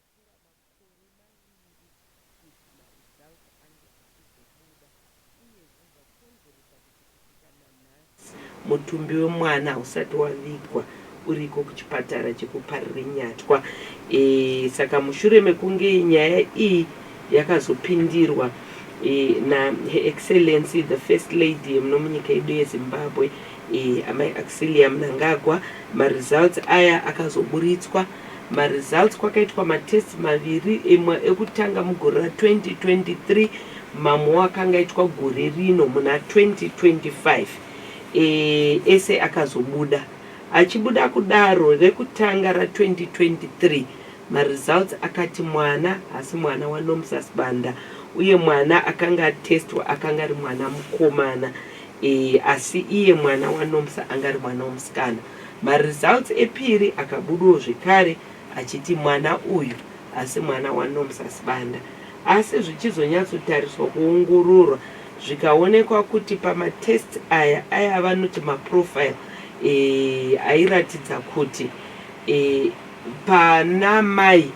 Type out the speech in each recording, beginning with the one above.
Apera makore maviri kuti ma results ange achizobuda uye izvi zvakonzeresa kuti kusvika nanhasi mutumbi wemwana hausati wavigwa uriko kuchipatara cheku Parirenyatwa saka mushure mekunge nyaya iyi yakazopindirwa na Her Excellency the First Lady yemuno munyika yedu ye Zimbabwe Amai Accelia Mnangagwa ma results aya akazoburitswa Ma results kwakaitwa ma tests maviri imwe ekutanga mugore ra 2023 mamwewo akanga aitwa gore rino muna 2025 eh, ese akazobuda. Achibuda kudaro rekutanga ra 2023 ma results akati mwana hasi mwana wa Nomsa Sibanda uye mwana akanga atestwa akanga ari mwana mukomana eh, asi iye mwana wa Nomsa anga ari mwana womusikana. Maresults epiri akabudawo zvekare achiti mwana uyu hasi mwana waNomsa Sibanda asi zvichizonyatsotariswa kuongororwa zvikaonekwa kuti pamatests aya aya avanoti maprofile ayiratidza kuti pana mai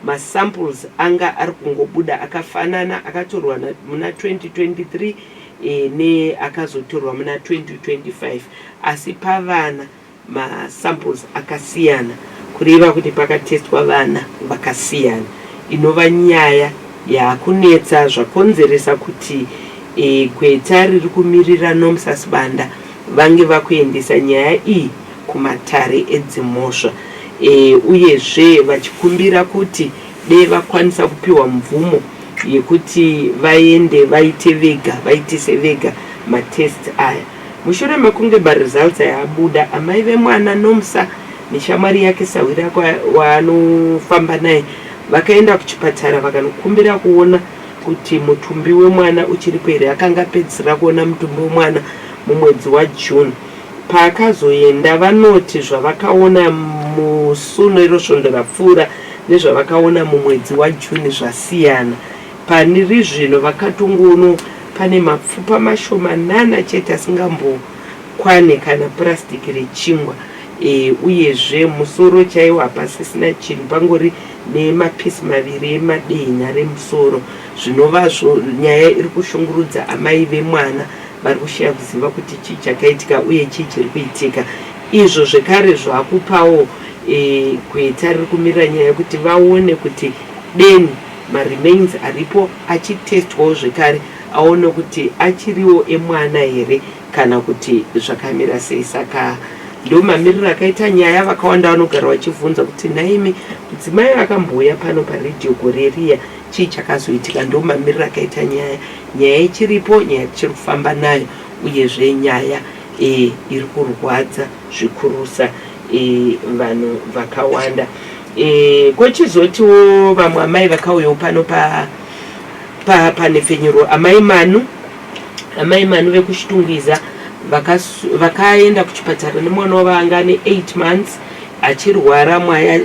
Masamples anga ari kungobuda akafanana akatorwa muna 2023 neakazotorwa muna 2025 asi pavana masamples akasiyana kureva kuti pakatestwa vana vakasiyana inova nyaya yakunetsa zvakonzeresa kuti e, gweta riri kumirira Nomsa Sibanda vange vakuendesa nyaya iyi kumatare edzimhosva uyezve vachikumbira kuti dei vakwanisa kupiwa mvumo yekuti vaende vaite vega vaitise vega matest aya mushure mekunge maresults aya abuda amai vemwana nomsa neshamwari yake sahwira waanofamba naye vakaenda kuchipatara vakanokumbira kuona kuti mutumbi wemwana uchiripo here akanga apedzisira kuona mutumbi wemwana mumwedzi wajune Paakazoenda, vanoti zvavakaona musu nerosvondo rapfuura nezvavakaona mumwedzi waJune zvasiyana. Pari zvino vakatongoonwo pane mapfupa mashomanana chete asingambokwane kana purasitiki rechingwa uyezve musoro chaiwo hapasisina chinhu pangori nemapisi maviri emadehenya remusoro zvinovazvo nyaya iri kushungurudza amai vemwana vari kushaya kuziva kuti chii chakaitika uye chii chiri kuitika izvo zvekare zvakupawo e, gweta riri kumirira nyaya yekuti vaone kuti deni maremains aripo achitestwawo zvekare aone kuti achiriwo emwana here kana kuti zvakamira sei saka ndo mamiriro akaita nyaya vakawanda vanogara vachivhunza kuti nhaimi mudzimai akambouya pano paredhiyo gore riya Chii chakazoitika? Ndomamiriro akaita nyaya. Nyaya ichiripo, nyaya tichiri kufamba nayo, uyezve nyaya e, iri kurwadza zvikurusa e, vanhu vakawanda e, kochizotiwo vamwe amai vakauyawo pano pa, pa, panhepfenyuro amai manu amai manu vekuchitungwiza vakaenda kuchipatara nemwana wavo anga ane 8 months achirwara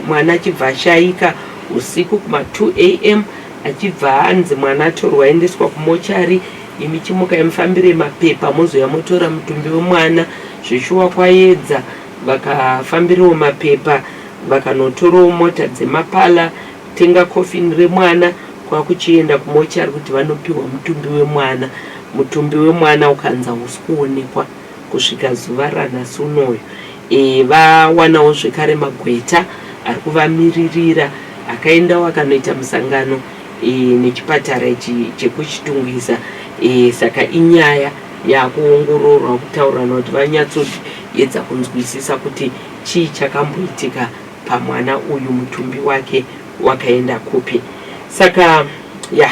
mwana achibva ashaika Usiku kuma 2am achibva anzi mwana atorwa aendeswa kumochari imi chimukai mufambire mapepa mozouya motora mutumbi wemwana zveshuwa kwayedza vakafambirawo mapepa vakanotorawo mota dzemapala kutenga coffin remwana kwakuchienda kumochari kuti vanopiwa mutumbi wemwana mutumbi wemwana ukanzi hausi kuonekwa Kusvika zuva ranhasi unoyu vawanawo zvekare magweta ari kuvamiririra akaendawo akanoita musangano nechipatara ichi chekuChitungwiza saka inyaya yakuongororwa kutaurirana kuti vanyatsoedza kunzwisisa kuti chii chakamboitika pamwana uyu mutumbi wake wakaenda kupi saka ya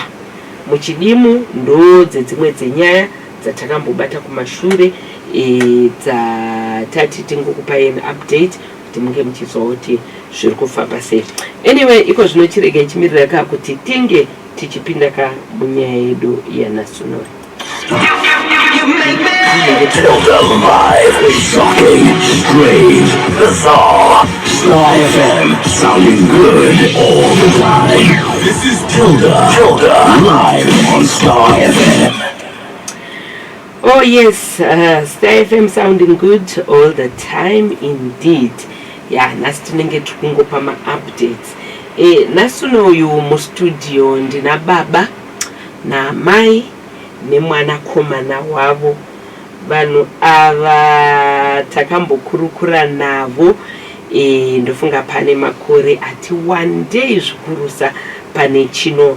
muchidimu ndoo dzedzimwe dzenyaya dzatakambobata kumashure dzatati tingokupai an update kuti munge muchiziva kuti zviri kufamba sei anyway iko zvino chiregai chimirira ka kuti tinge tichipinda ka munyaya yedu yanasonori This is Tilda, Tilda, live on Star FM. Oh yes, uh, Star FM sounding good all the time indeed. Yeah, nhasi tinenge tikungopa maupdates. Eh, nhasi uno uyu mustudio ndina baba namai nemwanakomana wavo. Vanhu ava takambokurukura navo eh, ndofunga pane makore ati wandei zvikurusa pane chino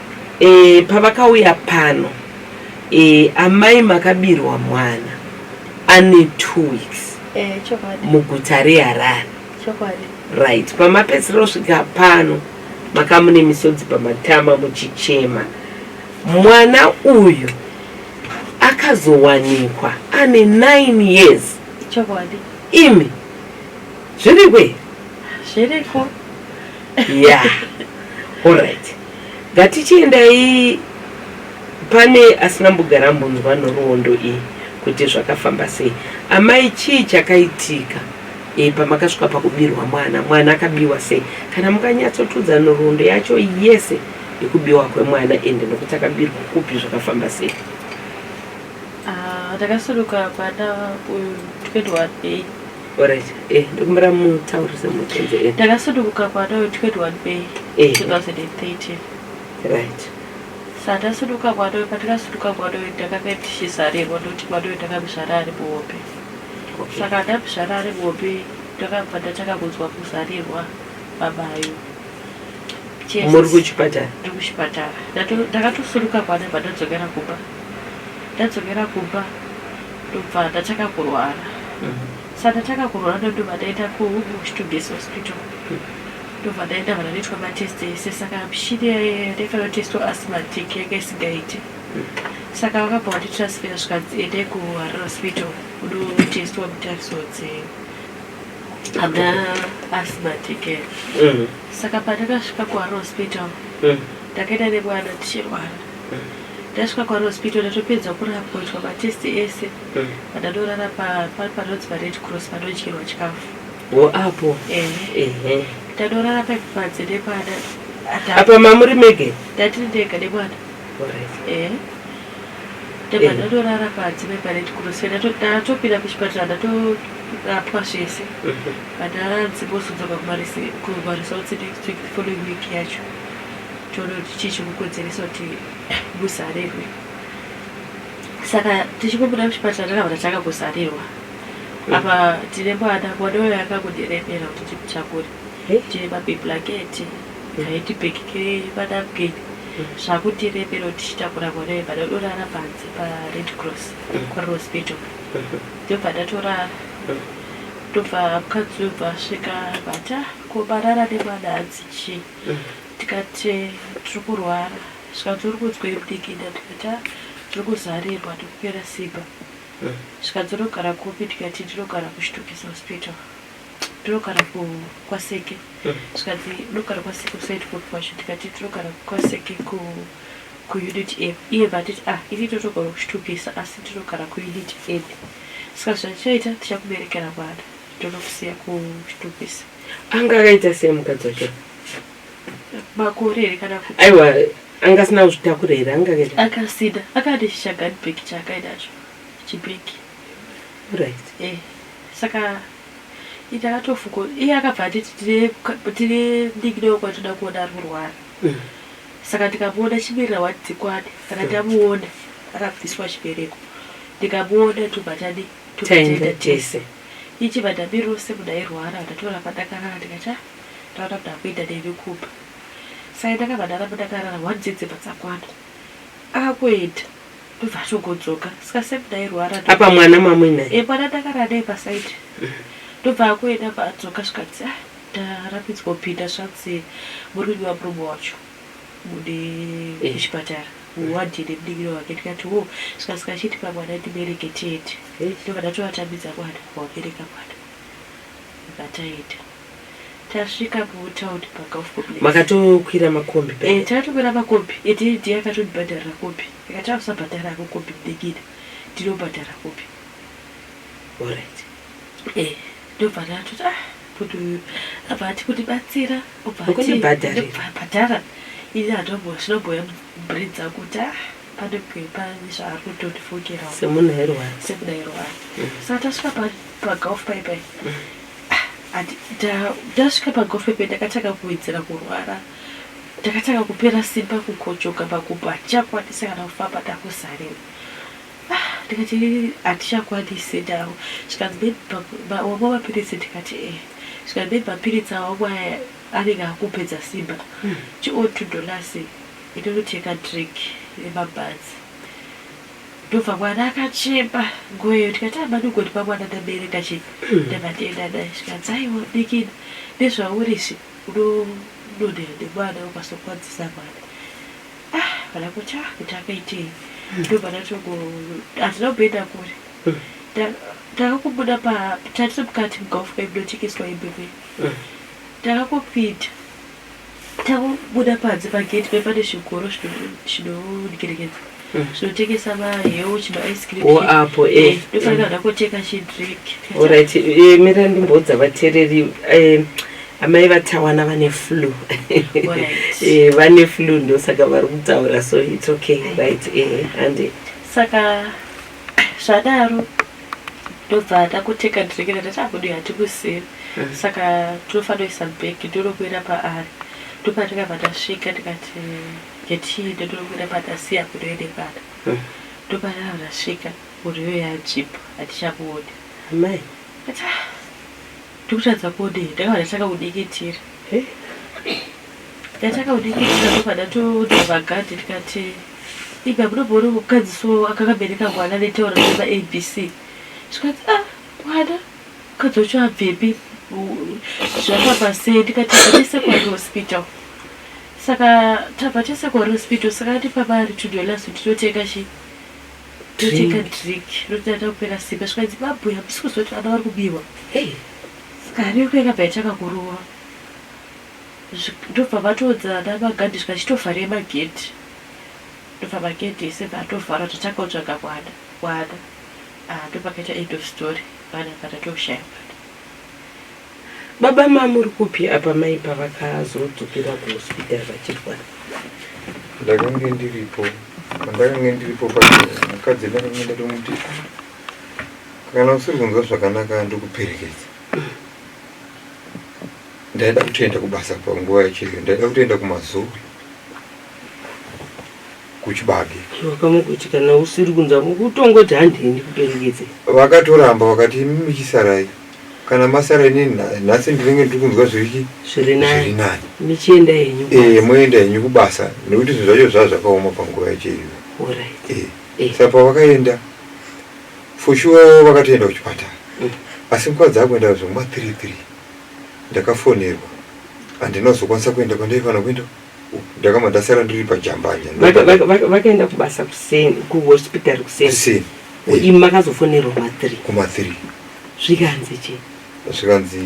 E, pavakauya pano e, amai makabirwa mwana ane two weeks e, muguta reharare right pamapedzisira kusvika pano makamune misodzi pamatama muchichema mwana uyu akazowanikwa ane nine years imi zviriko zviriko Yeah. All right. Ngatichiendai pane asina mbugara mbunzwa nhoroondo iyi kuti zvakafamba sei. Amai chii chakaitika? E, pamakasvika pakubirwa mwana, mwana akabiwa sei? Kana mukanyatsotudza nhoroondo yacho yese yekubiwa kwemwana ende nokuti akabirwa kupi zvakafamba sei? Ah, takasuruka kwana uyu 2018 Alright. Eh, ndikumbira mutaurise mutenze eh. Ndakasuduruka kwata we 21 May Eh. 2013. Right. Sandasuduka kwata we patikasuduka kwata we ndakakaitishizarirwa ndoti kwata we ndakabizvara ari muhope. Okay. Saka ndabizvara ari muhope ndakabva ndatanga kunzwa kuzarirwa babayo. Jesus. Muri kuchipatara. Ndiri kuchipatara. Ndato- Ndakatosuduka kwata bva ndadzokera kumba. Ndadzokera kumba ndobva ndatanga kurwara sandatanga kurwara ndondobva ndaenda kustuges hospital ndobva ndaenda vana ndoitwa matest ese saka mishini ndaifanira kutestwa asmatic yanga isingaiti saka vakabva vanditransfera zvikanzi ende kuharare hospital unotestwa mutariso dze hamna asmatic mm. saka pandakasvika kuharare hospital mm. ndakaenda nemwana tichirwara mm. Ndasvika kwaRospito ndatopedza kurapwa kuitwa matest ese ndadorara panonzi paRed Cross panodyirwa chikafu. Wo apo. Ehe. Ndadorara paipa panze nemwana. Apa mamuri mege? Ndatiri ndega nemwana. Ehe. Ndabva ndadorara panze paRed Cross ndatopinda kuchipatara ndatorapwa zvese. Vandaranzi vozodzoka kumaresults next week the following week yacho. tototi chii chikukodzeresa kuti muzarirwe saka tichikubuda muchipatara takabata takakuzarirwa apa tine mwana mwana uyo akakudiremera kuti timutakure tine mabiblaketi haiti bhekikire manapkin zvakutiremera kuti tichitakura mwana uyo bada dorara panze pared cross kwarir hospital ndobva ndatorara ndobva mukadzi uyo bva asvika bata kobarara nemwana hanzi chii tikati tiri kurwara zvikanzi uri kudzwei budikida tikati ah, tiri kuzarirwa tiri kupera simba zvikanzi unogara kupi tikati ndinogara kuchitokisi hospital tinogara kwaseke zvikanzi unogara kwaseke usaiti kupi kwacho tikati tinogara kwaseke ku kuunit a iye vatiti ah ini totogara kuchitokisi asi tinogara kuunit a saka zvachaita tichakuberekera mwana Takakusiya kuchitokisi. Anga akaita sei mukadzi wacho? Makore here kana kuti? Aiwa, anga asina kuzvitakura here? Anga akaita. Akasida. Akati chichagani bag chaakaenda nacho. Chibag. Right. Eh. Saka ita akatofuko. Iye akabva atiti tine tine ndinginewo kwatinoda kuona ari kurwara. Mm. Saka tikamuona chimirira wati dzikwani. Saka tamuona akabviswa chibereko. Ndikamuona tobva tadii? Taenda tese. Ichi vadhabi rose kudai rwara ndatora padakarara tikati ah ndaona kuti akuita newe kuba. Sai ndakavadana mudakarara one dzidzi padzakwana. Akakuenda ndobva atogodzoka ska same kudai rwara ndo. Apa mwana mamuinaye. Eh mwana ndakara naye paside. Ndobva akuenda bva adzoka zvikanzi ah ndarambidzwa kupinda zvanzi murume wamurume wacho. mude Eh. kuchipatara muwadhi nemudikiri wake ndikati wo zvikasika achitipa mwana ndibereke tiende Hey. ndobva ndatovatambidza mwana kuvabereka mwana ndobva taenda tasvika mutown pagolf complex makatokwira makombi Eh, paya takatokwira makombi ende ndiye akatondibhadharira kombi akati ausabhadhara hako kombi mudikini ndinobhadhara kombi alright Eh, ndobva ndatoti ah bhuti uyu abva ati kundibatsira obva ati Kunibhadharira. ndobva bhadhara ini handombo zvinobhoya brain dzangu kuti ah pane pepa zvaari kutondifungirawo semunhu airwara sekudaro wani saka tasvika pa- pagolf pai pai Ah, ati ta- tasvika pagolf pai pai ndakatanga kuwedzera kurwara ndakatanga kupera simba kukochoka pakubhacha kwanisa kana kufamba ndakuzarewo ndikati hatichakwanise ndavo zvikanzi maybe wamwa mapiritsi ndikati e zvikanzi maybe mapiritsi awamwa aya anenge akupedza simba hmm. chion two dollars inonoteka drink yemabhanzi ndobva mwana akachema ngoyo ndikati amanigoni ah, pamwana ndabereka chi hmm. ndamatenda naye zvikanzi aiwa dikini nezvaurisi unononea nemwana ukasokwadzisa mwana ah pana kuti ah kuti akaitei ndobana toko hatina kuenda kure Ta- takakubuda pa tatiri mukati mugolf club ndochekeswa hembe kwe takakupinda takubuda panze pagate pe pane zvigoro zvino- zvinodyerekedza zvinotengesa mahewu chimaice cream Wo chii. apo, eh. Eh, ndofanira hana kotenga chidrink Alright, eh, mira ndimboudza vatereri eh, amai vatawana vane flu eh, vane flu ndosaka vari kutaura so its okay right eh, ande saka zvadaro ndobva takuteka ndirekera tati akudu hatikusiri mm. saka tinofanira kuisa bhegi ndinokuenda paari ndopa tikabva tasvika tikati getii ndotinokuenda patasiya kudoende pata mm. ndopa takabva tasvika muriyo yajipa hatichakuoni amai ah, Tikutadza kudii takabva tatanga kudikitira tatanga kudikitira tobva tatodhova gadhi tikati ibe abudoboone mukadzi so akakabereka mwana netaura nema abc zvikanzi a ah, mwana mukadzi wacho abvepi zvafamba sei ndikati atesekwane hospital saka tabva tesekwane hospital saka ati pamari tudolas tinotenga chii toteka drink rotata kupera simba svikanzi babhuya misi kuzoti vana vari kubiwa sikari yoko yakabva yatanga kurova ndobva vatoudza ana magadi zvika chitovhara emagedhi ndobva magedhi ese bvatovharwa tatanga kutsvaga mwana mwana ah, ndopakaita end of story vana vana toshaya mwana Baba ma muri kupi apa mai pavakazodzokera kuhospital vachirwara? Ndakange ndiripo pandakange ndiripo pacho mukadzi ndakange ndatomuti kana usiri kunzwa zvakanaka ndokuperekedza ndaida kutoenda kubasa panguva yacheyo ndaida kutoenda kumazuva kuchibage vakamukuti kana usiri kunzwa kutongoti handiendi kuperekedze vakatoramba vakati imi michisarai kana masara ini nhasi ndinenge ndiri kunzwa zviri zviri nani michienda henyu e, moenda henyu kubasa nekuti zvinhu zvacho zvaa zvakaoma panguva yacho iyoyo e. e. sa pavakaenda for sure vakatoenda kuchipatara mm. asi nguva dzakuenda zvomwa three three ndakafonerwa handina kuzokwanisa kuenda kwandaifanira kuenda ndakabva ndasara ndiri pajambanya vakaenda kubasa kuseni kuhospital kuseni imi makazofonerwa mathree kumathree zvikanzi chi zvikanzi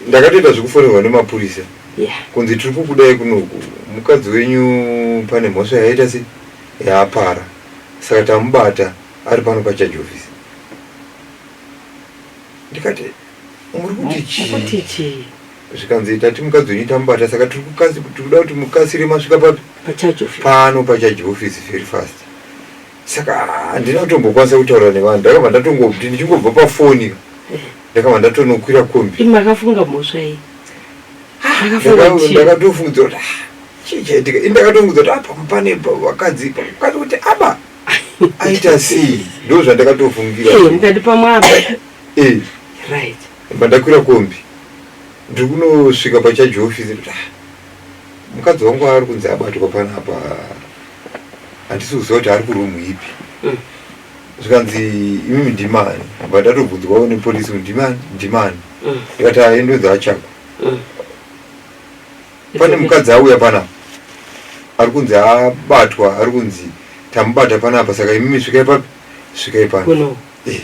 ndakatoita zvekufonerwa nemapurisa kunzi tiri kukudai kunoku mukadzi wenyu pane mhosva yaita se yaapara saka tamubata ari pano pacharge office ndikati muri kuti chii zvikanzi tati mukadzi wenyu tamubata saka tiri kukasi tiri kuda kuti mukasire masvika papi pacharge office pano pacharge office very fast saka handina kutombokwanisa kutaura nevanhu ndakabva ndatongoti ndichingobva pafoni ka Eh. ndakabva ndatonokwira kombi Imi makafunga mhosva iyi makafunga Ndaka- chii ndakatofungidzira kuti "Ah, chii chaitika ini ndakatongidzira kuti apa pane pa- vakadzi pa- vakadzi kuti aba aita sei ndo zvandakatofungira Eh, mukati pamwaba Eh, right Ndobva ndakwira kombi ndiri kunosvika pachaji office kuti ah, mukadzi wangu ari kunzi abatwa panapa handisi kuziva kuti ari kuroom ipi mm. zvikanzi imimi ndimani bva ndatobvunzwawo nepolisi kuti ndimani ndimani mm. ndikati aendonzi ah, achakwa mm. pane mukadzi auya panapa ari kunzi abatwa ari kunzi tamubata panapa saka imimi svikai papi svikai pano eh.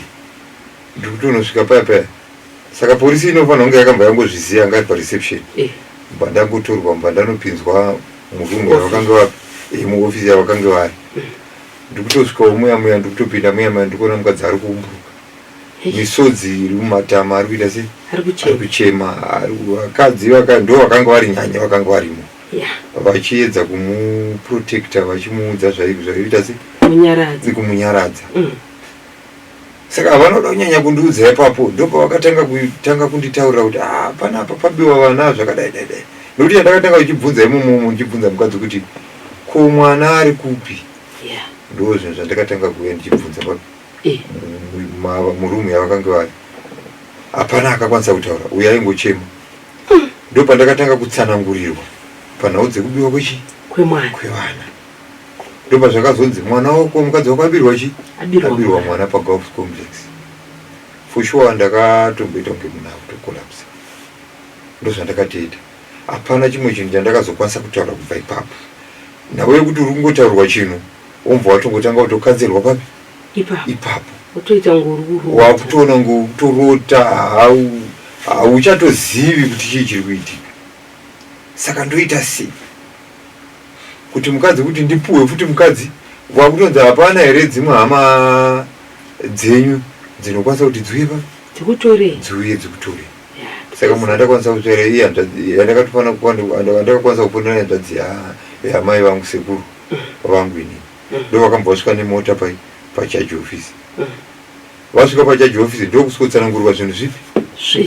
ndikuti unosvika paya paya saka porisi inofanira kunge yakamba yangozviziva anga ari pareception eh. mba ndangotorwa mba ndanopinzwa murumu yavakange vapi eh, muofisi yavakange vari eh. ndikutosvikawo muya muya ndikutopinda muya muya ndikuona mukadzi ari kuumburuka misodzi iri mumatama ari kuita sei ari kuchema vakadzi ndo vakanga vari nyanya vakanga varimo vachiedza kumuprotecta vachimuudza zvaiita sei kumunyaradza mm. saka vanoda kunyanya kundiudza ipapo ndopavakatanga kutanga kunditaurira kuti ah, panapa pabiwa vana zvakadai dai dai nokuti chandakatanga uchibvunza imomomo ndichibvunza mukadzi kuti ko mwana ari kupi yeah. ndo zvinhu zvandakatanga kuuya ndichibvunza eh. murumu yavakange vari hapana akakwanisa kutaura uyo aingochema hmm. ndo pandakatanga kutsanangurirwa panhau dzekubiwa kwechi kwemwana kwevana ndopazvakazonzi mwana wako mukadzi wako abirwa chi abirwa mwana pagolf complex for sure ndakatomboita kunge munhu akutokolapsa ndozvandakatoita hapana chimwe chinhu chandakazokwanisa kutaura kubva ipapo nhau yekuti uri kungotaurwa chinhu womva watongotanga kutokanzerwa papi ipapo wakutoona ngotorota hauchatozivi kuti chii chiri kuitika saka ndoita sei kuti mukadzi kuti ndipuhwe futi mukadzi kwakutonzi hapana here dzimwe hama dzenyu dzinokwanisa kuti dziuye pa dzikutore dziuye dzikutore saka munhu andakwanisa kutora iye andakatofanira kuandakakwanisa kuponera hanzvadzi yamai vangu sekuru mm. vangu ini mm. ndo vakambosvika nemota pai pachaji ofisi mm. Vasvika pajaji office ndokuswotsanangurwa zvinhu zvipi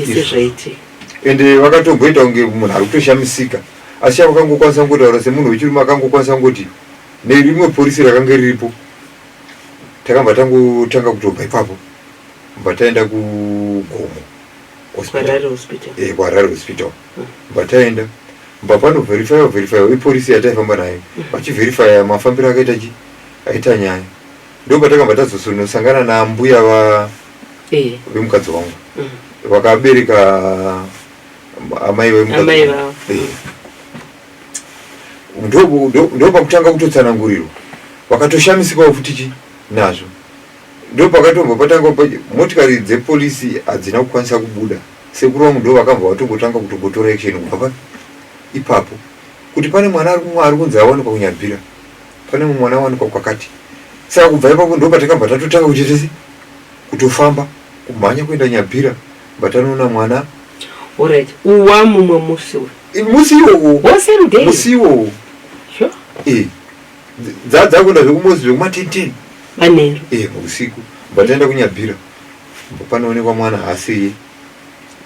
zvese zvaitika ende vakatomboita kunge munhu ari kutoshamisika asi chavo vakangokwanisa kungotaura semunhu wechirume akangokwanisa kungoti nerimwe porisi rakange riripo takabva tangotanga kutobva ipapo bva taenda kugomo kwarare hospital eh, kwarare hospital hmm. bva taenda bva panoverifyiwa verifyiwa iporisi yataifamba nayo hmm. vachiverifya mafambiro akaita chi aita nyaya ndopatakabva tazosonosangana naambuya va eh. vemukadzi wangu mm. vakabereka amai vemukadzi eh. ndopakutanga kutotsanangurirwa vakatoshamisikawo futi chi nazvo ndopakatobva patanga motikari dzepolisi hadzina kukwanisa kubuda sekuru vangu ndo vakabva vatongotanga kutongotora action kubva ipapo kuti pane mwana ari kunzi awanikwa kunyabvira Pane mumwe mwana awanikwa kwakati. Saka kubva ipapo ndopatakabva tatotanga kuti tese kutofamba kumhanya kuenda Nyabira but anoona mwana. Alright, uwa mumwe musi uyu. I- Musi iwowo. Wo same day. Musi iwowo. Sure. Eh. Dza dzakuenda zvekumosi zvekuma 10 10. Manheru. Eh, usiku. But taenda kuNyabira. Panoonekwa mwana haasiye.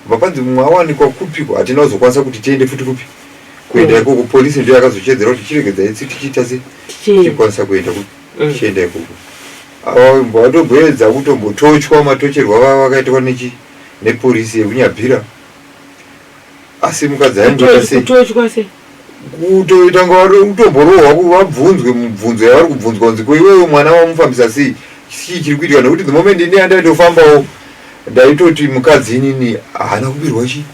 Vakanzi mumwe awanikwa kupiko hatina kuzokwanisa kuti tiende futi kupi kuenda mm. ikoko polisi ndiyo yakazochedzera kuti chiregedza itsi tichiita se tichikwanisa kuenda kupi mm. tichienda ikoko vatomboedza kutombotochwa matocherwa vava vakaitwa nechi nepolisi yekunyabvira asi mukadzi aingoita sei kutoita kunge vari kutomborohwa ku- vabvunzwe mubvunzo yavari kubvunzwa kunzi ko iwewe mwana wamufambisa sei chii chiri kuitika nekuti the moment ini yandaitofambawo ndaitoti mukadzi inini haana kubirwa chii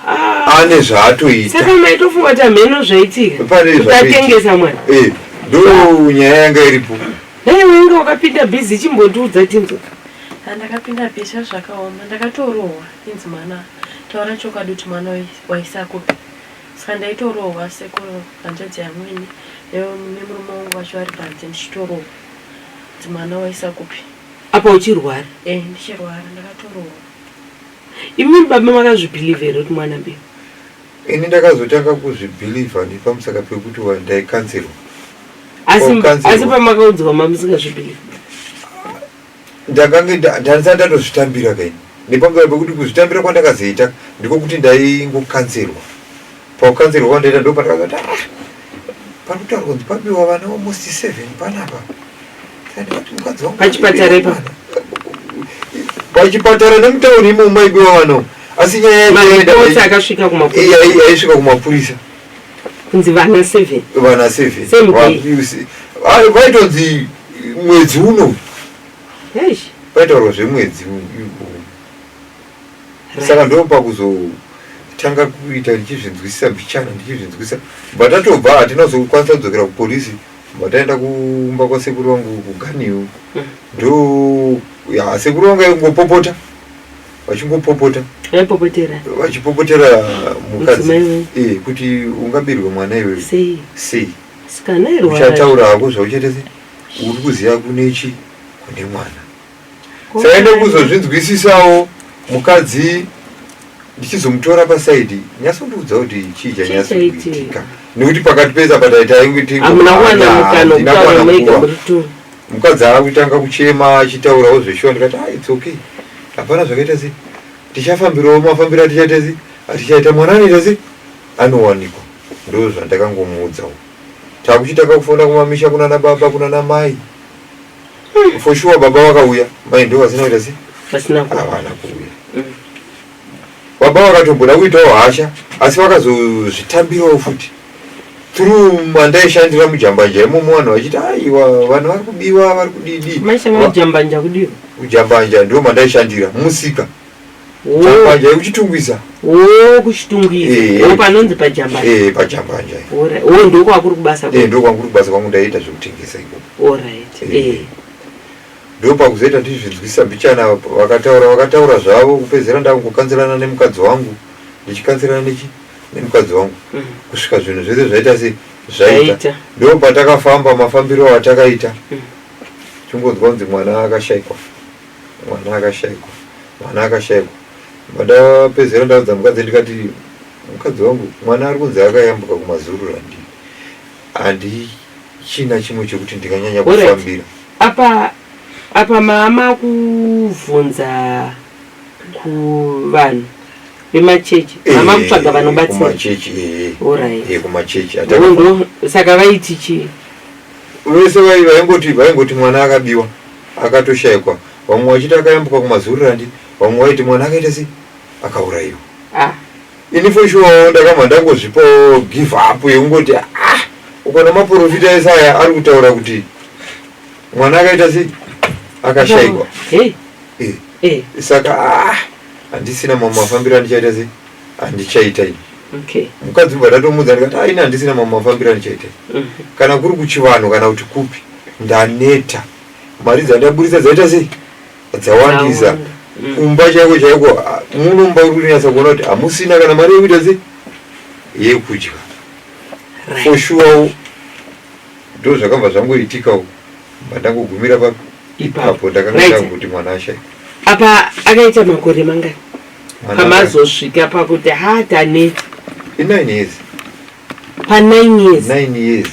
Ah, ane zvaatoita saka maitofunga kuti hameno zvaitika Pane zvaitika. ukatengesa mwana Eh, ndo nyaya yanga iripo dai wainge wakapinda bhizi chimbotiudza tinzo Ah, ndakapinda bhisha zvakaoma ndakatorohwa inzi mwana taura chokwadi kuti mwana wai- waisakupi Saka ndaitorohwa sekuru hanzvadzi yamwene nemurume wangu vacho vari panze ndichitorohwa kuti mwana waisa kupi. Apa uchirwara? Eh ndichirwara ndakatorohwa. Imi baba makazvibhilivha here kuti mwana mbeu? Ini ndakazotanga kuzvibhilivha nepamusaka pekuti ndaikanzirwa. Asi pamakaudzwa mamusingazvibhilivha? Ndakange ndandisati ndatozvitambira kaini nepamberi pekuti kuzvitambira kwandakazoita ndiko kuti ndaingokanzerwa pakukanzerwa kwandaita ndo pandakazoti ah, panotaurwa kunzi pabiwa vana almost seven panapa ndandikati mukadzi wangu pachipatara ipa pachipatara nemutauri imo maibiwa vana asi nyaya yaisvika kumapurisa kunzi vana seven vana seven Same Wa- day. you see. Ah, vaitonzi mwedzi uno Eish, vaitaurwa zvemwedzi u- u- right. saka ndopakuzotanga kuita ndichizvinzwisisa mbichana ndichizvinzwisisa but atobva hatina kuzokwanisa kudzokera kupolisi but aenda kumba kwasekuru vangu kuganiyo Mm. ndo ya sekuru vangu aingopopota vachingopopota vaipopotera vachipopotera mukadzi Mudzimai wenyu. eh, kuti ungabirwe mwana iwewe sei sei sikana irwara uchataura hako zvauchaita se uri kuziva kune chi kune mwana saende kuzozvinzwisisawo mukadzi ndichizomutora pasaidi nyasondiudza kuti chii chanyasi Chii chaitika? kuitika nekuti pakati pese apa taita inge tingo- Hamuna kuwana Ah, mukana handina wekutaura kuwana mega nguva. muri two. Mukadzi akutanga kuchema achitaurawo zveshuwa ndikati ah it's okay. Hapana zvakaita sei. Tichafambirawo mafambira tichaita sei? Tichaita mwana anoita sei? Anowanikwa. Ndoo zvandakangomuudzawo. Takuchitanga kufona kumamisha kuna na baba kuna na mai. For sure baba vakauya. Mai ndoo vasina kuita sei? Vasina kuuya. Havana kuuya. Mm. Baba vakatombona kuitawo hasha asi vakazozvitambirawo futi through mandaishandira mujambanja imomo vanhu vachiti aiwa vanhu vari kubiwa vari kudidi majambanja kudii kujambanja ndo mandaishandira musika jambanja yekuchitungwiza o kuchitungwiza panonzi pajambanja eh, pajambanja o ndokwakuri kubasa eh, ndokwakuri kubasa kwangu ndaiita zvekutengesa ikoko orit eh. Ndopakuzoita ndizvinzwisa mbichana ava vakataura vakataura zvavo kupedzisira ndakungokanzirana nemukadzi wangu ndichikanzirana nechi nemukadzi wangu mm. kusvika zvinhu zvese zvaita se zvaita ndopatakafamba mafambiro atakaita mm. chingonzwa kunzi mwana akashaikwa mwana akashaikwa mwana akashaikwa ndapedzisira ndaudza mukadzi ndikati mukadzi wangu mwana ari kunzi akayambuka kumazurura ndii Handichina chimwe chekuti ndikanyanya kufambira. Apa apa mama kuvhunza kuvanhu vemachechi mama eh, kutsvaga vanobatsira kumachechi eh, eh. eh kumachechi ndo saka vaiti chii vese vaingoti vaingoti mwana akabiwa akatoshaikwa vamwe vachiti akayambuka kumazururandi vamwe vaiti mwana akaita sei akaurayiwa ah. Ini for sure ndakabva ndangozvipawo give up yekungoti ah ukaona maporofita ese aya ari kutaura kuti mwana akaita sei akashaikwa Eh, Eh, eh, saka ah handisina mamwe mafambiro andichaita sei handichaita ini okay. mukadzi ubva ndatomuudza ndikati ah ini handisina mamwe mafambiro andichaita ini Mhm. kana kuri kuchivanhu kana kuti kupi ndaneta mari dzandaburitsa dzaita sei dzawandisa mm. kumba chaiko chaiko ah, munomba uri kunyatsa kuona kuti hamusina kana mari yekuita se yekudya for sure ndo zvakabva zvangoitikawo mandangogumira papi ipapo ndakanga kuti mwana ashaika apa akaita makore mangani pamazosvika pakuti ha tane inine years pa nine years nine years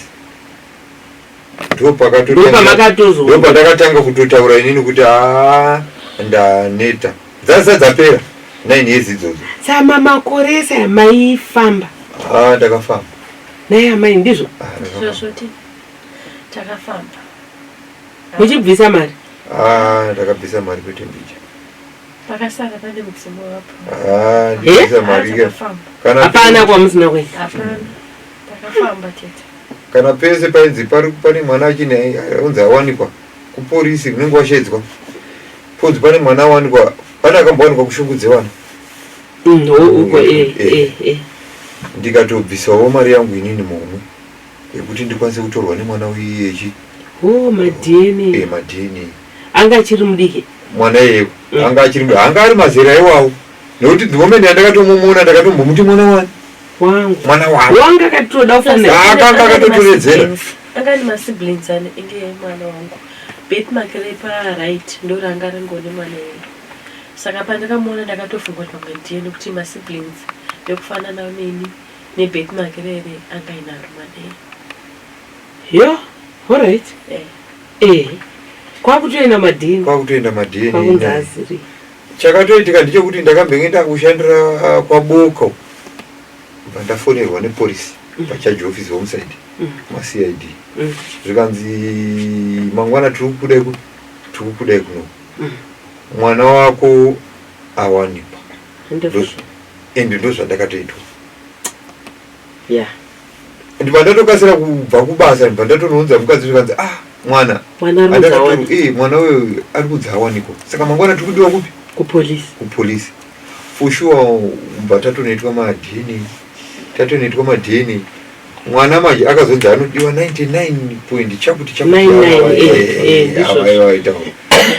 ndopandakatanga kutotaura inini kuti a ndaneta dzasa dzapera nine years idzodzo sama makore ese amaifamba a ndakafamba naye amai ndizvo takafamba muchibvisa mari a ndakabvisa mari kwete mbicha pakasara pane mudzimu wapo ndibvisa mari hapana kwamusina kuenda Takafamba tete. Kana pese painzi pari pane mwana achine aunzi awanikwa kupolisi unenge washedzwa. Ponzi pane mwana awanikwa pane akambowanikwa kushungudze vanhu. Mm, ho uko eh Eh. eh eh. Ndikatobvisawo mari yangu inini momwe yekuti ndikwanise kutorwa nemwana uyu echi Ho ma eh, DNA. madini. Anga achiri mudiki. Mwana iyeyo Mm. anga achiri anga ari mazera iwawo nekuti the moment yandakatomuona ndakatombomuti mwana wani wangu mwana wangu wanga akatoda kufanira ah, akanga akatotoredzera anga ni masiblings ane inge mwana wangu bet make repa right ndoranga ringone mwana wangu saka pandakamuona ndakatofunga kuti pamwe ndiye nekuti masiblings vekufanana neni nebet make rere anga inaro mwana wangu yo horit eh. eh kwakutoenda madini kwakutoenda madini kwakunzi aziri Chakatoitika ndechekuti ndakambenge ndakushandira ah, kwaBoko bva ndafonerwa nepolisi mm. pachaji office homicide mm. macid mm. zvikanzi mangwana tiri kukudai tiri kukudai kuno mwana wako awanikwa and ndozvandakatoitwa ndibva ndatokasira kubva kubasa ndibva ndatonounza mukadzi zvikanzi ah mwana eh, mwana uyo ari kudza awaniko saka mangwana tiri kudiwa kupi kupolisi kupolisi for sure mbva tatonoitwa madna tatonoitwa madna mwana manje akazonzi anodiwa 99 point chakuti chakuavaita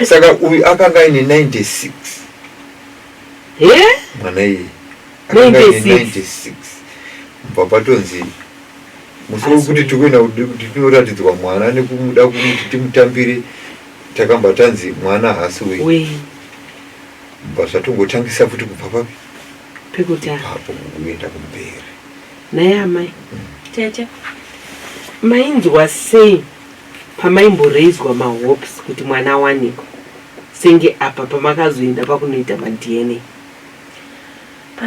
saka uyu akanga aine 96 mwana iyeye 1996 kubva patonzi musi wekuti tikuenda kuti tinoratidzwa mwana nekumuda kumuti timutambire takamba tanzi mwana hasi wei bva zvatongotangisa futi kubva papi pekutaapo kuenda kumberi naye amai mm. tete mainzwa sei pamaimboreizwa mahopes kuti mwana awanikwa senge apa pamakazoenda pakunoita madna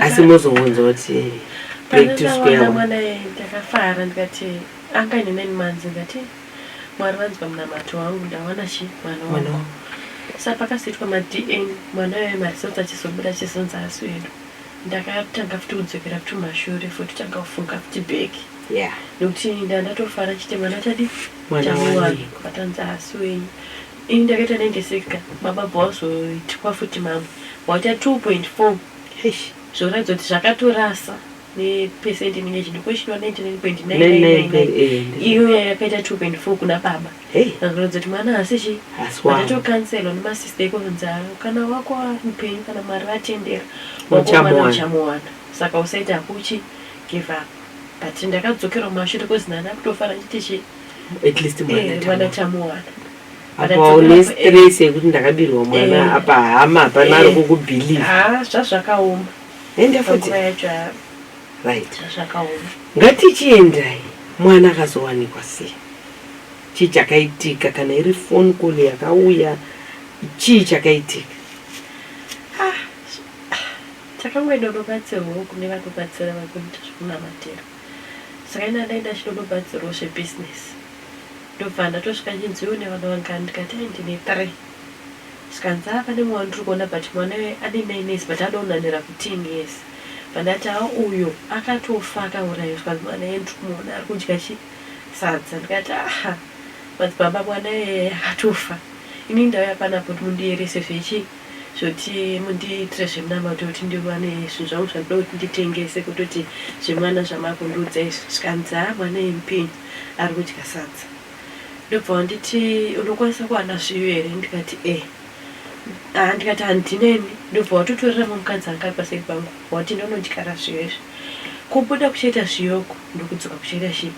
asi mozounza kuti pandakaona mwana yeye ndakafara ndikati anga ine nine months ndikati mwari vanzwa munamato wangu ndawana chi mwana wangu sa pakasiitwa madn mwana yeye maresults achizobuda achizonzi asi wedu ndakatanga futi kudzokera futi mashure futi tanga kufunga futi back nekuti nda ndatofara chite mwana chadi chamuwangu vatanzi asi wenyu Ini ndakaita 96 ka baba bva wazoitwa futi mamwe waita 2.4 eish zvoratidza kuti zvakatorasa nepercent inenge ichidiwa ko ichiniwa 99.999 iyo yakaita 2.4 kuna baba Hey, vakaratidza kuti mwana haasi chi asi wangu. vatatokanselwa nemasista iko kunzi "Ah, kana wako ari mupenyu kana mwari vatendera wako Uchamuwana." mwana uchamuwana saka usaita hakuchi give up but ndakadzokerwa mumashure kozi nani akutofara chiti chi at least mwana tamuwana apa une stress yekuti ndakabirwa mwana apa hama hapana ari kukubelieve ah, zvazvakaoma enda futi right zvazvakaoma ngatichiendai mwana akazowanikwa sei chii chakaitika kana iri phone call yakauya chii chakaitika ah, takangoenda unobatsirwawo kune vanobatsira vakuita zvekunamatira Saka ini handai ndachinonobatsirwo zvebusiness ndobva ndatosvika ndichinzi une vana vangani ndikati ai ndine three zvikanzi haa pane mumwe wandiri kuona but mwana uye ane nine years but anonanira kuteen years bva ndati haa uyo akatofa akauraiwa zvikanzi mwana iye ndiri kumuona ari kudya chi sadza ndikati aha madzibaba mwana iyeye akatofa inini ndauya pano apo kuti mundiyerese zvechi zvekuti mundiitire zvemunamato kuti ndiwane zvinhu zvangu zvandoda kuti nditengese kutoti zvemwana zvamakundiudza izvi zvikanzi haa mwana yemupinyu ari kudya sadza ndobva wanditi unokwanisa kuwana zviyo here ndikati e eh. haa ndikati handineni ndobva watotorera mumukadzi anga ari paseri pangu wati ndonondyara zviyo izvi kubuda kuchaita zviyoko ndokudzoka kuchaita chii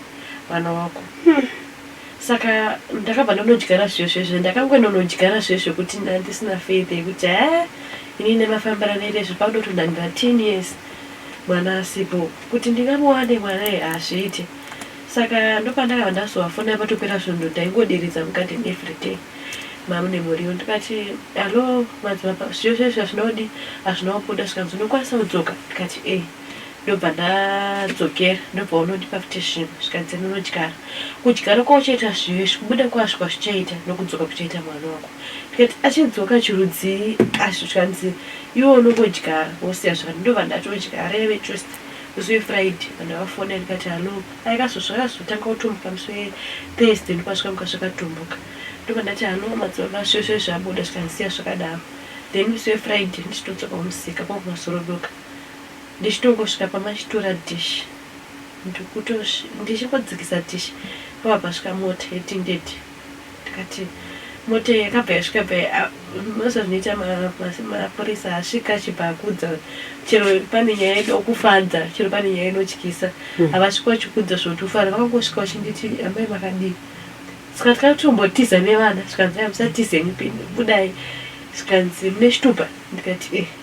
mwana wako hmm. Saka ndakabva ndonodyara zviyo zviyo zviyo ndakangononodyara zviyo zvekuti ndandisina faith yekuti haa ini nemafambira nere zvepandoto ndandira ten years mwana asipo kuti ndingamuwane mwana ye hazviite saka ndopandakabva ndazovafona patopera svondo taingoderedza mukati everyday mamu nemuriwo ndikati hallo madzibaba zviyo zviyo zviyo hazvina kudi hazvina kubuda zvikanzi unokwanisa kudzoka ndikati e ndobva ndadzokera ndobva unondipa futi zvinhu zvikanzi ndinodyara kudyara kwauchaita zvive zvikubuda kwazvo kwazvichaita nokudzoka kuchaita mwana wako ndikati achidzoka chirudzii asi zvikanzi iwe unongodyara wosiya zvakati ndobva ndatodyara yave just zuve friday vanhu vafona ndikati hallo aikazvo zvakazotanga kutumbuka musi wethursday ndopazvikamuka zvakatumbuka ndobva ndati hallo madzibaba zvese zvabuda zvikanisiya zvakadaro then musi wefriday ndichitodzoka kumusika kwakumasorodoka ndichitongosvika pamachitura dish ndokutosv ndichingodzikisa dish pabva pasvika mota yetinded ndikati mota iyi yakabva yasvika bva ya- moziva zvinoita ma- ma- mapurisa asvika achibva akudza chero pane nyaya inokufadza chero pane nyaya inotyisa havasvika vachikudza zvotofara vakangosvika vachinditi amai makadii saka takatombotiza nevana zvikanzi "Aya, musatize henyu pini budai zvikanzi mune chitupa ndikati eh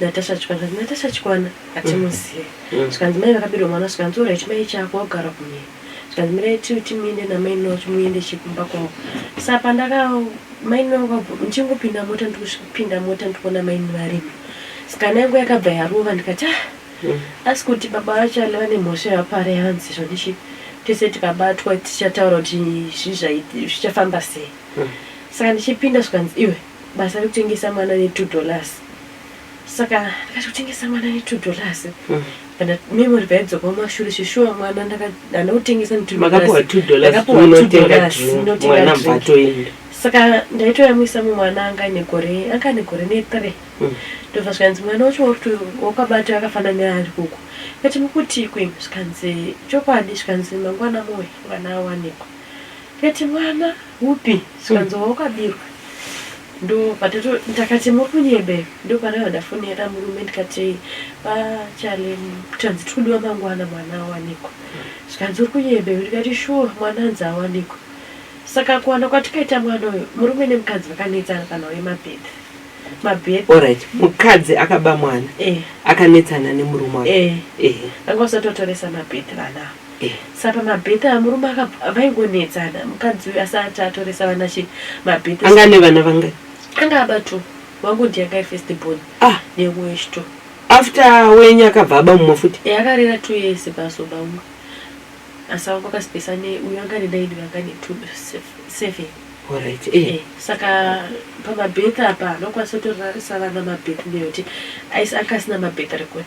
Natasha Chikwana zvikanzi Natasha Chikwana hatimuzive mm. zvikanzi mai vakabirwa mwana zvikanzi ora chimai chako wagara kumhiri zvikanzi mirai tiwi timuende namai noo chimuende chekumba kwavo sa pandaka mai noo ndichingopinda mota ndikusvipinda mota ndikuona mai varimo sikana yangu yakabva yarova ndikati ah mm. asi kuti baba vacho alava nemhosva yavapare hanzi zvondichi tese tikabatwa tichataura kuti zvichafamba sei mm. saka ndichipinda zvikanzi iwe basa rekutengesa mwana ne two dollars saka ndikati kutengesa mwana ne two dollars mm. kana memory paidzoka mumashure svishuwa mwana ndakadana kutengesa ne two dollarsmakapuwa two dollarsinotengamwana mbatoenda saka ndaitoyamwisa mumwana anga negore anga negore nethree mm. ndobva mm. zvikanzi mwana wacho wakuti wakabata akafanana neari kuku kati mukuti kwi zvikanzi chokwadi zvikanzi mangwana moyo mwana awanikwa kati mwana Kupi? Zvikanzi wawakabirwa ndopato ndakati muri kunyebera ndopanavada foni yada murume ndikati pachale tanzi tiri kudiwa mangwana mwana awanikwa zvikanzi uri kunyebera ndikati shuwa mwana anzi awanikwa saka kuwana kwatikaita mwana uyu murume nemukadzi vakanetsana panhau yemabhedha mabhedha Alright, mukadzi akaba mwana eh, akanetsana nemurume wake. eh. Eh. vanga vasatotoresa mabhedha vana ava Eh sa pamabirthday amurume akabva vaingonetsana mukadzi uyu asati atoresa vana she mabirthday anga ane vana vangani anga aba two wangu ndiye anga ari first born ah neumwe wechito after wenyu akabva aba mumwe futi Eh akarera two years pazoba umwe asi wangu akasipesa ne uyu anga ane nine uyu anga ane two sev- seven alright eh Eh, saka pamabirthday apa anokwanisa kutorarisa vana mabirthday nekuti aisi anga asina mabirthday record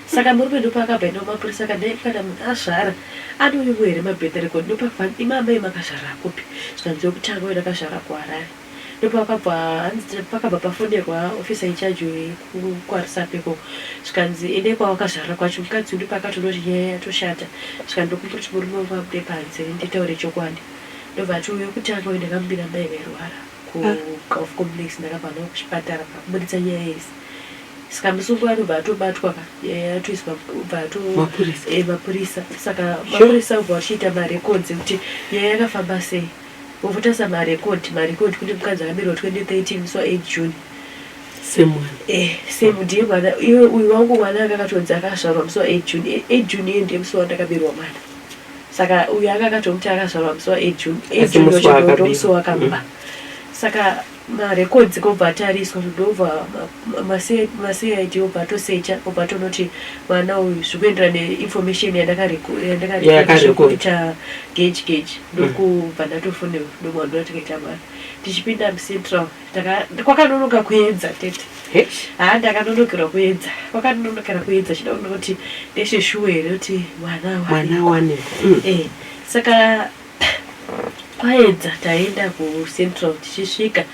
Saka murume ndopaakabva enda kumapurisa ka dai kana munhu azvara anouyiwo here ma birth record ndopakva imi amai makazvarira kupi zvikanzi wekutanga uyu ndakazvarira ku Harare ndopakabva hanzi pakabva pafonerwa officer in charge weku kwaRusape ikoko zvikanzi endai kwawakazvarira kwacho mukadzi uyu ndopakatonoti nyaya yatoshata zvikanzi ndokumbira kuti murume wangu abude panze nditaure chokwadi ndobva ati uyu wekutanga uyu ndakamubira mai vairwara kuGulf Complex ndakabva ndava kuchipatara pakubuditsa nyaya yese saka musungo anobva atobatwa ka eh, atoiswa bva ato Mapurisa. eh, mapurisa saka mapurisa obva achiita marecords ekuti nyaya yakafamba sei votarisa marecord marecord kune mukadzi akaberwa 2013 musi wa 8 june semwana eh same ndiye mwana iwe uyu wangu mwana akakatonzi akazvarwa musi wa 8 june Eh, 8 june iye ndiye musi wandakaberwa mwana saka uyu anga akatomuti akazvarwa musi waejune ejune wachadoto musi wakamba saka marekodzi kobva atariswa ndobva macid obva atosecha obva atonoti mwana uyu zvikuendera neinformation yandakarekoita gage gage ndokubva ndatofonewa ndomwana ndikati amai tichipinda mucentral kwakanonoka kuedza tete haa ndakanonokera kuedza kwakanonokera kuedza chida kuda kuti ndeshe shuwe here kuti mwana wane mm. eh, saka kwaedza taenda kucentral tichisvika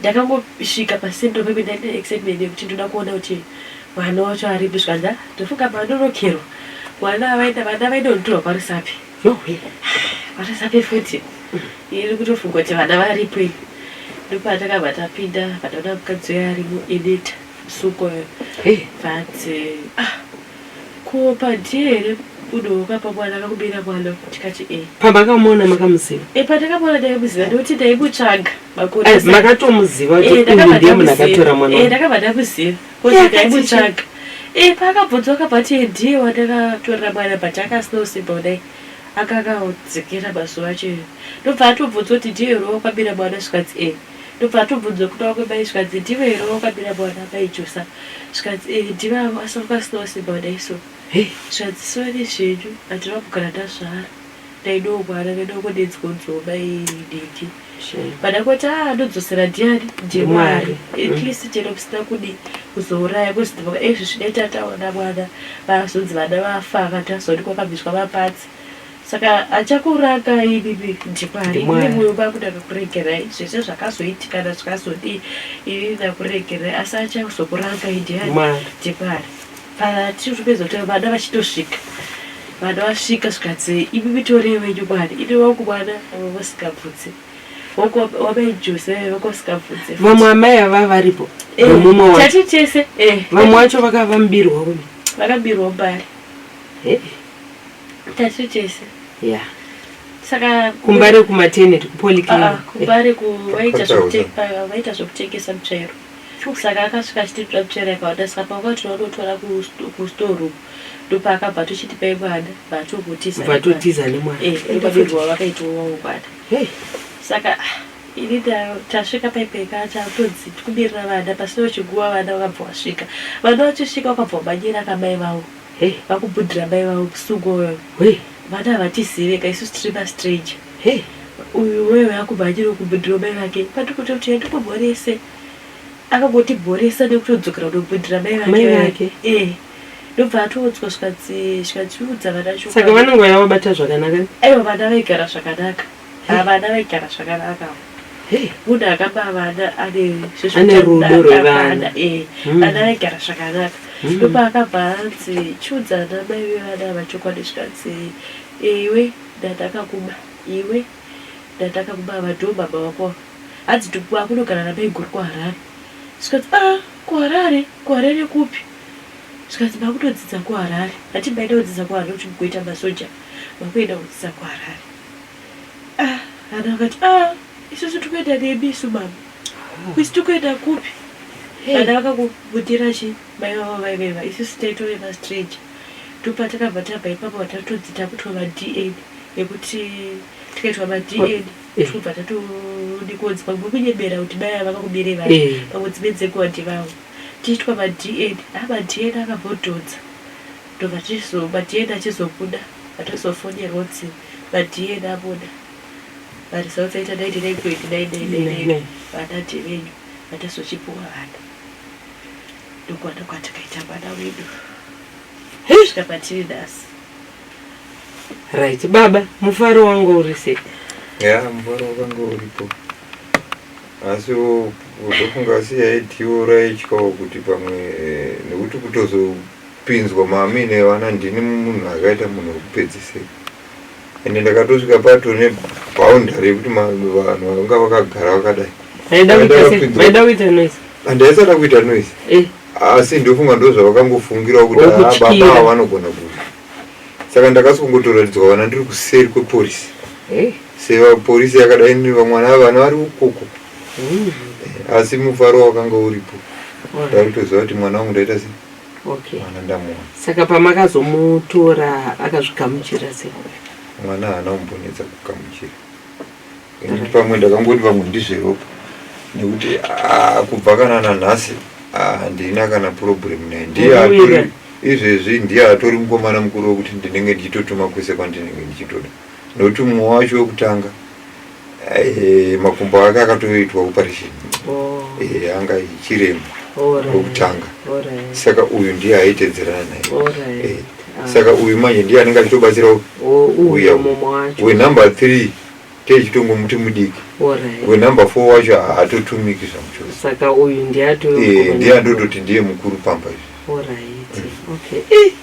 ndakangosvika pacentral pepe ndaita excitement yekuti ndoda kuona kuti mwana wacho aripi zvikanzi ndofunga manonokerwa mwana vaenda vana vainonditorwa parisapi yohwe vatasape futi iri kutofunga kuti vana varipo iyi ndopatakabva tapinda pataona mukadzi uya ari muedita suko but ah ko padie here unowoka pamwana akakubira mwana tikati e pamakamuona makamuziva e pandakamuona ndaimuziva ndikuti ndaimutsvaga makore makatomuziva kuti ndiye munhu akatora mwana ndakabva ndamuziva kuziaimutsvaga e eh, paakabvunzwa kabati ndiye wandakatorera mwana but akasina simba kudai akakaudzikira mazuva acho iyo ndobva atobvunzwa kuti ndiye here wakwabira mwana zvikanzi e eh. ndobva atobvunzwa kuti wakwemai zvikanzi ndive here wakwabira mwana mai josa zvikanzi e eh, ndive asi wakasina simba kudai so zvikanzi sori zvenyu handina kugara ndazvara Ndaidawo kuhara ndaidawo dai dzingodzoka iri diki. Pada kuti ah ndodzosera diary ndiMwari. At least chero kusina kudi kuzouraya kuziva ezvi zvidai tataona mwana vazonzi vana vafa vanhu tazoti kwakabviswa mapatsi. Saka achakuranga ibibi ndiMwari. Ine moyo vangu ndakakuregerai zvese zvakazoitika na zvakazodii ini ndakuregerai asi achazokuranga idiary ndiMwari. Patiri kutopedza kutaura vana vachitosvika vana vasvika zvikanzi imi mitorei wenyu mwana ini wangu mwana vamwe vasikabvudze Wako- wamai jose vaive vako vasikabvudze vamwe amai ava varipo Eh, vemumwe wacho tati tese eh, vamwe wacho vaka- vamubirwa uyu vakabirwa mbari Eh, tati tese yeah. saka kumbare kumateneti Ah, ah, kupolyclinic kumbare ku- vaita Kwataura. zvekute- ah, vaita zvekutengesa mutsvairo Fuchs aka akasvika achititsva tsvera ikawanda saka panga kuti tinototora kustore uku ndopaakabva tochitipa imwana bvatotiza nemwana eh, ndobabirwa vakaitwa wangwana saka ah, ini tasvika paipeka tatonzi tikumirira vana pasina chiguva vana vakabva vasvika vana vachisvika wakabva wamanyira kamai vangu Hey vakubudira mai vavo kusungwa uyo. Hey vana havatizive ka isu tiri ma stranger. Hey uyu wewe akumhanyira kubudira mai vake pandikuti kuti enda kumhorese. Akangoti mhoresa nekutodzokera kunobudira mai vake. Mai vake. Eh ndobva atoodzwa zvikadziudza vana chokwadi saka vanongouya vabata zvakanaka aiwa vana vaigara zvakanaka Havana vaigara zvakanaka avo. Hey, Munhu akaba vana ane zvesvekuti Ane anoda rudo akaba rwevana. vana, eh, Mm. vana vaigara zvakanaka. Mm. Ndopaakabva anzi chiudza ana mai vevana ava chokwadi zvikanzi iwe ndandakakuba iwe ndandakakuba ava ndiwo baba vako ava. Hanzi ndikuba kunogara namaiguru kuHarare. Zvikanzi ah kuHarare kuHarare kupi? Zvikanzi makutodzidza kuHarare. Hati maida kudzidza kuHarare kuti mugoita masoja. Makuenda kudzidza kuHarare. Ah, Hana vakati ah, isusu tikuenda nemi isu mama. Kusi tikuenda kupi? Hey. Hana vakakubudira chi mai vavo vaiveva isusu taitove mastranger. Ndopa takabva tabva ipapo vatatodzi takutwa maDNA nekuti tikaitwa maDNA Eh. tobva tatodikudzi pamwe kunyebera kuti mai ava vakakubirei vanhu Eh. pamwe dzimwe dzenguva ndivavo tiitwa maDNA ah maDNA akabhodhodza Ndobva tizo ma DNA achizobuda patazofonerwa kuti ma DNA abuda ma results aita 99.999 vana ndevenyu vatazochipuwa vana ndokuwana kwatakaita mwana wedu kusvika patiri nhasi right baba mufaro wangu uri sei ya mufaro wakanga uripo asi ndofunga asi yaitiwo raityawo kuti pamwe eh, nekuti kutozo Kupinzwa mami nevana ndini munhu akaita munhu wekupedzisira ende ndakatosvika pato neboundary yekuti vanhu vanga vakagara vakadai handaisada kuita noise eh. asi ndofunga ndo zvavakangofungirawo kuti ah, baba ava vanogona kuva saka ndakasongotoratidzwa vana ndiri kuseri kweporisi eh. sevaporisi yakadai vamwana ava vana vari ukoko eh, asi mufaro wakanga uripo ndaitoziva kuti mwana wangu ndaita sei Okay. mwana ndamuona Saka pamakazomutora akazvigamuchira sei? mwana haana kumbonetsa kugamuchira nekuti pamwe ndakangoti pamwe ndizveropa nekuti ah, kubva kana nanhasi ah, handina kana problem naye ndiye Uyu atori izvezvi ndiye atori mukomana mukuru wekuti ndinenge ndichitotuma kwese kwandinenge ndichitoda nokuti mumwe wacho wekutanga eh, makumbo ake akatoitwa operation oh. eh, anga ichirema wekutanga saka uyu ndiye aitedzerana naye eh, ah. saka uyu manje ndiye anenge achitobatsira oh, uya wenumber three techitongo muti mudiki wenumber four wacho haatotumiki zvamuchosaka uyu ndiye andototi ndiye mukuru pamba izvi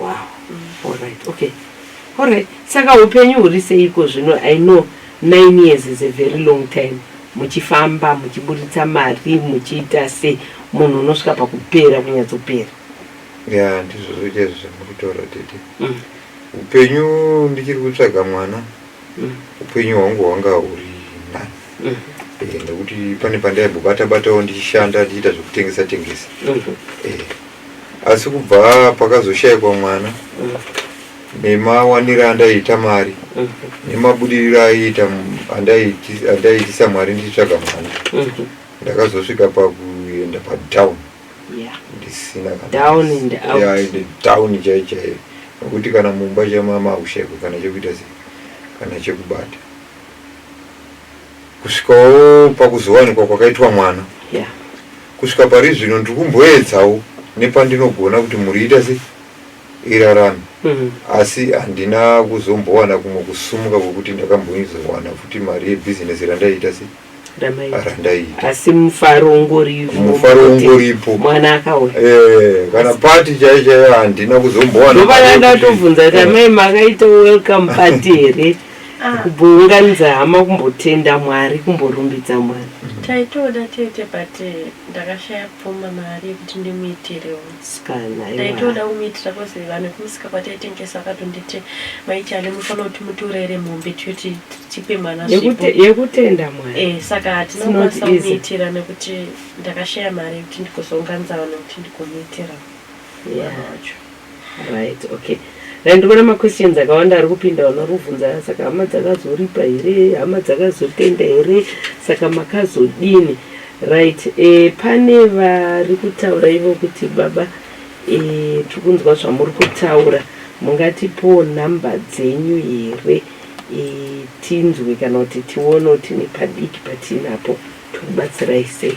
wow alright okay alright saka upenyu huri seiko zvino i know nine years is a very long time muchifamba muchiburitsa mari muchiita se munhu unosvika pakupera kunyatsopera ya ndizvo zvoita izvo zvamuri kutaura tete mm. upenyu ndichiri kutsvaga mwana mm. upenyu hwangu hwanga huri nani mm. eh, nekuti pane pandaimbobata batawo ndichishanda ndichiita zvekutengesa tengesa eh. asi kubva pakazoshaikwa mwana mm. nemawaniro andaiita mari mm. nemabudiriro aiita andaiitisa mwari ndichitsvaga mwana mm. ndakazosvika pakuenda padown ndisina down chai chaiyo nokuti kana mumba chamama haushaikwe kana chekuita sei kana chekubata kusvikawo pakuzowanikwa kwakaitwa mwana yeah. Kusvika pari zvino ndiri kumboedzawo nepandinogona kuti mhuri iita sei, irarame. Mm. Asi handina kuzombowana kumwe kusumuka kwekuti ndakamboizowana futi mari yebhizinesi randaiita sei, Ndamaita. randaiita. Asi mufaro ungoripo. Mufaro kuti ungoripo. Mwana akauya. Eh, kana pati chaiyo chaiyo handina kuzombowana Ndopana mari yekuti- ndatovhunza kuti amai makaita welcome party here? kubvounganidza hama kumbotenda mwari kumborumbidza mwari taitoda tete but eh, ndakashaya pfuma mari yekuti ndimuitirewo taitoda kumuitira bcause vanhu kumusika kwataitengesa vakatonditi maichale mufanira kuti mutorere mombe tikuti tipe mwana yekutenda mwari eh, saka hatinokwanisa kumuitira nekuti ndakashaya mari yekuti ndikozounganidza vanhu kuti ndigomuitira mwana wacho Right, okay. Dai ndikuona maquestions akawanda ari kupinda vanorubvunza saka hama dzakazoripa here hama dzakazotenda here saka makazodini right e, pane vari kutaura ivo kuti baba e, tiri kunzwa zvamuri kutaura mungatipowo nhamba dzenyu here e, tinzwe kana kuti tione kuti nepadiki patinapo tikubatsirai sei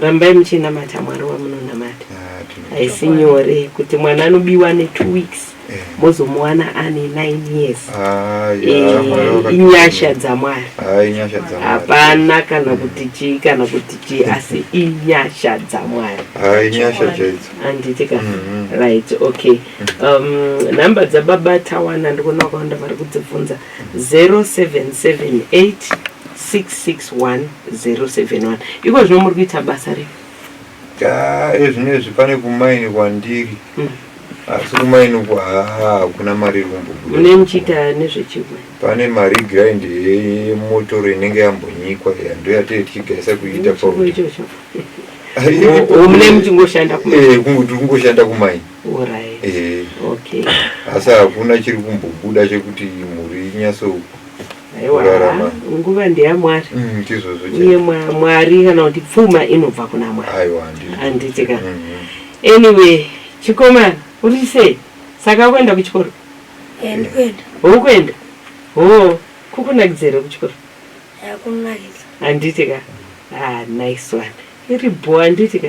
rambai muchinamata mwari wamunonamata haisi nyore kuti mwana anobiwa netwo weeks eh. mozomuwana ane nine years ah, eh, inyasha dzamwari ah, hapana kana hmm. kuti chii kana kuti chii asi inyasha dzamwari ah, anditi ka hmm, hmm. right okay um, nhamba dzababa tawana ndikuona kwawanda vari kudzibvunza 0778661071 iko zvino muri kuita basa ripi ezvinezvi pane kumaini kwandiri mm. asi kumaini uku hakuna mari irikumbobudaune muchiita nezvechimwe pane mari grind yemotoro inenge yambonyikwa ndo yatee tichigaisa kuita paumune muchingoshanda kumaini Eh. asi hakuna chiri kumbobuda chekuti mhuri inyatsorarama nguva ndeyamwari mm, chizvozvo iye mwari kana kuti pfuma inobva kuna mwari aiwa handiti ka mm-hmm. anyway chikomana uri sei saka akuenda kuchikoro houkuenda ho kukunakidzere kuchikoro handiti ka ah, nice one iri bho handiti ka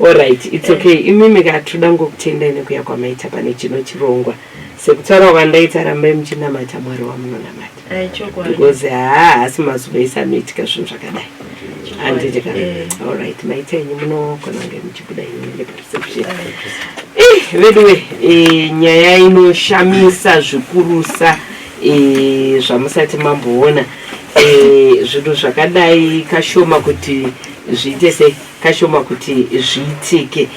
Alright, it's okay. Imimi ka tinoda ngokutendai nekuya kwamaita pane chino chirongwa. Sekutaura kwandaita rambai muchinamata Mwari wamunonamata. Eh, chokwadi. Because haa haasi mazuva ese anoitika zvinhu zvakadai. Handiti ka. Eh. Alright, maita enyu munogona kunge muchibuda imi mune perception. Eh, veduwe, eh, nyaya inoshamisa zvikurusa eh, zvamusati mamboona eh, zvinhu zvakadai kashoma kuti zviite sei kashoma kuti zviitike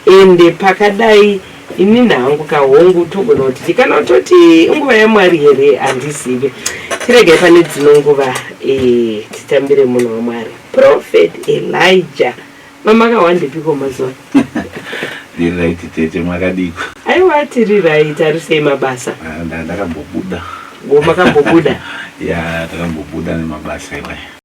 ende pakadai ini nhangu kahongu togona kuti tikana kutoti nguva yamwari here handizive tiregai pane dzino nguva eh, titambire munhu wamwari prophet elijah mamakawandipiko mazuva riraiti tete makadiko aiwa tiri raiti ari sei mabasa ah, ndakambobuda makambobuda ya takambobuda nemabasa iwaya